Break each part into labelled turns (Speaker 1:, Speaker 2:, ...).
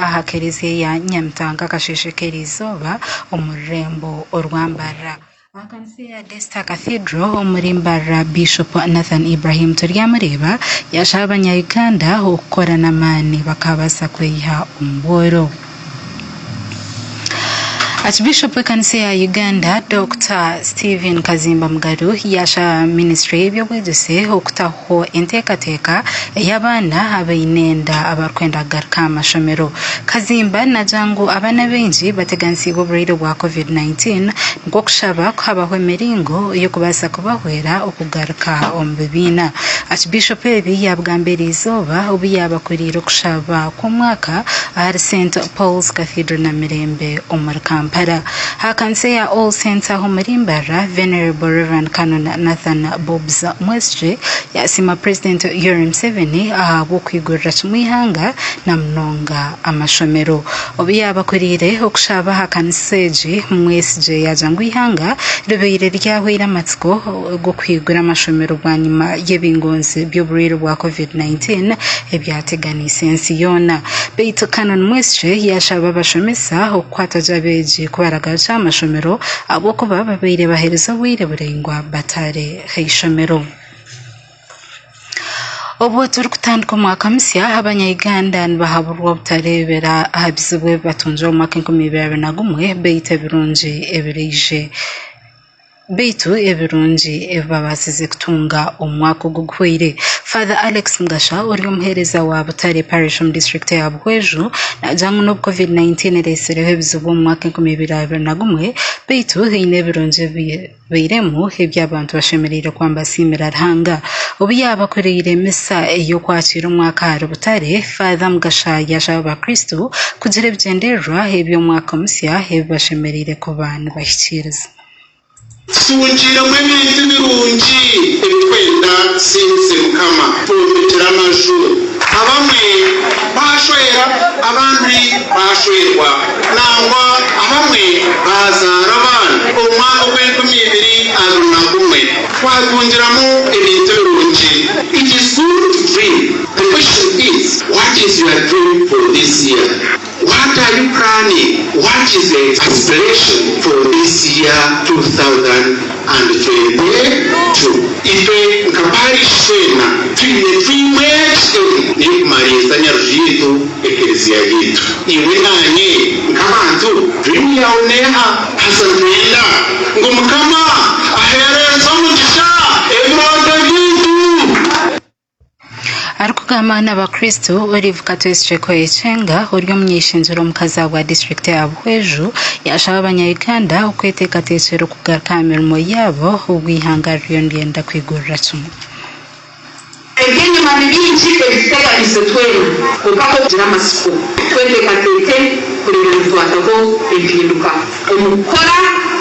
Speaker 1: aha Kereziya ya Nyamitanga Kasheeshe K'erizooba omu rurembo orwa Mbarara aha kanisa eya Daystar Cathedral omuri Mbarara Bishop Nathan Ibrahim Turyamureeba yashaba abanya Uganda okukora n'amaani bakabaasa kweyiha omu bworo. Archbishop w'ekanisa ya Uganda Dokita Stephen Kazimba Mugaru yaasha ministry y'eby'obwegyese okutaho enteekateeka ei abaana abaine enda abarikwenda kugaruka aha mashomero. Kazimba naagira ngu abaana baingi bateganisiibwe oburwaire bwa covid 19 nikwo kushaba ku habaho emiringo y'okubaasa kubahwera okugaruka omu bibiina. Archbishop ebi yaabigambira erizooba obu yaabakuriire okushaba Omwaka ahari St Paul's Cathedral Namirembe omuri Kampala ha kanisa eya All Saints aho omuri Mbarara Venerable Rev Canon Nathan Bobs Mwesije yasiima President Yoweri Museveni ahabw'okwigurira kimwe eihanga na munonga amashomero. Obu yaabakoreire okushaba aha kanisa egi Mwesije yaagira ngu eihanga ribaire ryahweire amatsiko g'okuhigura amashomero bwanyima y'ebingonzi by'oburwaire bwa Covid-19 ebyateganiise. eyeekwatse ensi yoona. Beitu Canon Mweshe yaashaba abashomesa okukwata gye abeegi ku baragarukire aha mashomero ahabw'okuba babaire baheerize obwire buraingwa bataari ha ishomero. Obwo turikutandika omwaka musya, Abanya-Uganda nibahaburwa obutareebera aha bizibu ebi batungire omu mwaka enkumi ibiri abiri na gumwe beitu ebirungi ebiraije Beitu ebirungi ebi babaasize kutunga omu mwaka ogu guhweire. Father Alex Mugasha ori omuhereza wa Butare Parish omu district ya Buhweju nagira ngu n'obu covid 19 eretsireho ebizibu omu mwaka 2021 beitu haine ebirungi ebibairemu ebi abantu bashemereire kuba nibasiimira Ruhanga. Obu yaabakoreire misa ey'okwakiira omwaka ahari Butare, Father Mugasha yashaba abakristo kugira ebigyendererwa eby'omwaka musya ebi bashemereire kuba. nibahikiiriza.
Speaker 2: Tutungiiremu ebintu birungi ebi twenda tusingize Mukama. Twombekire amaju, abamwe baashwera, abandi baashwerwa, nangwa abamwe baazaara abaana. Omu mwaka ogw'enkumi ibiri abiri na gumwe, twatungiramu ebintu birungi. It is good to dream. The question is, what is your dream for this year? What are you planning? What is the aspiration for this year two thousand and twenty two? Itwe nka Parish twena twine dream egi emwe n'ey'okumariisa Nyarugiitu Ekereziya yaitu. Iwe naanye nk'abantu dream yaawe n'eha? Haza nitwenda ngu Mukama aheerereze omugisha ebirooto byaitu.
Speaker 1: Arikugamba na bakristo, Olive Katwesi Chekwa Echenga ori omunyaishengyero omukazi ahabwa disiturikiti ya Buhweju yashaba abanyayuganda okweteekateekyera okugaruka aha mirimo yaabo obwe ihanga ririyo niryenda kwigurira kimwe.
Speaker 3: Eby'enyima ni bingi ebituteganiise twena kwonka ku orikugira amatsiko, tweteekateeke kureeba nitwataho empinduka. Omu kukora,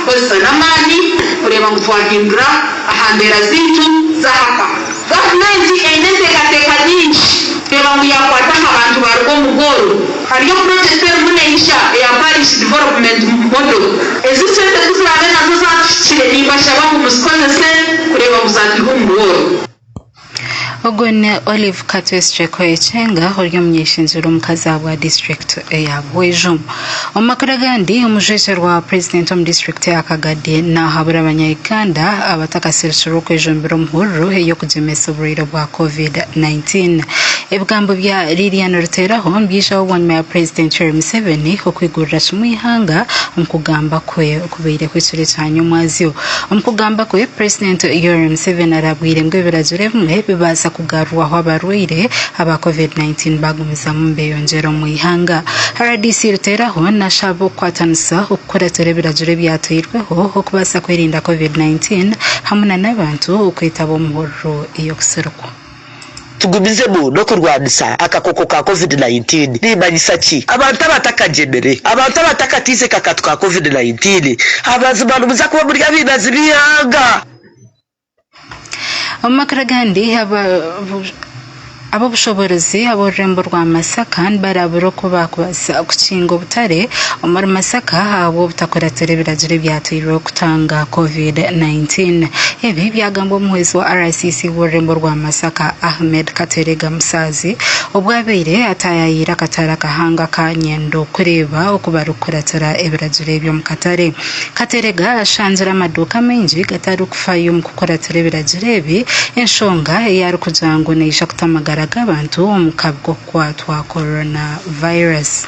Speaker 3: kozesa n'amaani kureeba ngu twahindura aha mbeera zaitu z'aha ka. Gavumenti eine enteekateeka nyingi kureeba ngu yaakwata aha bantu baaruga omu bworo. Hariyo purojekiti erimu neija eya Parish Development Model. Ezi sente ku ziraabe nazo zaatuhikire, nimbashaba ngu muzikozese kureeba ngu zaatwiha omu bworo.
Speaker 1: Ogwo ni Olive Katwestre Koechenga ori omunyeshengye rw'omukazi ahabwa disiturikiti eya Bwejo. Omu makuru agandi omujwejo rwa purezidenti omu disiturikiti ya Kagadi nahabura abanya Uganda abatakasirikirwe okwejombera omu hururu ey'okugyemesa oburwaire bwa covid 19. Ebigambo bya Lilian Ruteeraho nibyijaho bwanyima ya purezidenti Yoweri Museveni okwigurira kimwe eihanga omu kugamba kwe Kubaire kwetsura ekyanya omwazyo. Omu kugamba kwe, Purezidenti Yoweri Museveni arabwire ngu ebiragiro ebimwe bibaasa kugarurwaho abarwaire aba Covid 19 bagumizamu nibeyongyera omu ihanga. Rdc Ruteeraho nashaba okukwatanisa okukuratira ebiragiro ebyatweirweho okubaasa kwerinda Covid 19 hamwe nana abantu okwetaba omu hururu ey'okusirikwa. Tugumizemu
Speaker 4: n'okurwanisa akakooko ka covid nineteen nimanyisa ki? Abantu abatakagyemire, Abantu abatakatiize kakatu ka covid nineteen amazima nimuza kuba muri abainazi b'eihanga. Omu makuru agandi
Speaker 1: ab'obushoboorozi ab'orurembo rwa Masaka nibarabura oku baakubazireho. Nitubaasa kukinga obutare omuri Masaka ahabw'obutakuratira ebiragiro ebyateirweho kutanga Covid 19. Ebi byagambwa omuhwezi wa RCC w'orurembo rwa Masaka, Ahmed Kateregga Musaazi, obwo abaire ataayayeire akatare akahanga ka Nyendo kureeba oku barikukuratira ebiragiro ebi omu katare. Kateregga ashangire amaduuka maingi gatarikufayo omu kukuratira ebiragiro ebi, enshonga ei arikugira ngu neija kuta amagara g'abantu omu kabugo. kwatwa Corona Virus.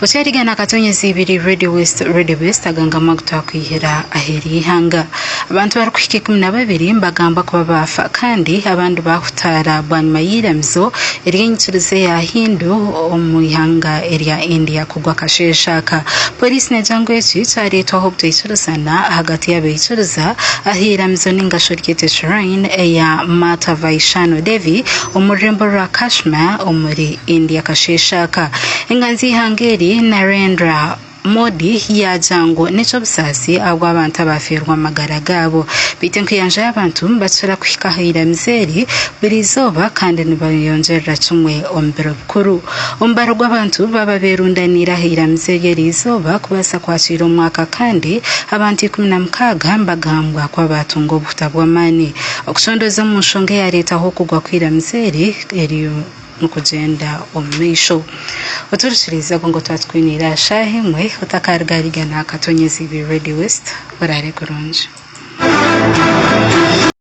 Speaker 1: Okyarigana akatonya ezibiri Radio West Radio Best agangama agutwakwihira aheri ihanga abantu barikuhika ikumi na babiri nibagamba kuba baafa kandi abandi baahutaara bwanyima y'eiramizo ery'enyikiriza eya Hindu omu ihanga erya India kugwa akasheeshe aka polisi negira ngu eki kyareetwaho obutaikirizana ahagati y'abaikiriza aha iramizo ningashi oryete shrine eya Mata Vaishano Devi Omu rurembo rwa Kashmir omuri India akasheeshe aka, enganzi y'eihanga eri Narendra Modi yaagya ngu n'eky'obusaasi ahabw'abantu abaafeerwa amagara gaabo. Beitu enkuyanja y'abantu nibakira kuhika aha iramizo eri buri izooba kandi nibeyongyerera kimwe omu biro bikuru. Omubaro gw'abantu baba beerundaniire aha iramizo eryo eri izooba kubaasa kwakiira omwaka kandi abantu ikumi na mukaaga nibagambwa kuba baatunga obuhuta bw'amaani. Okushondooza omu nshonga eyareetaho okugwa kw'eiramizo eri eriyo nikugyenda omu maisho. Oturikiriize obwo ngu tuba tukwineire aha shaaha emwe otakaarigaariga naakatonyezi ibi Radio West. Oraare kurungi.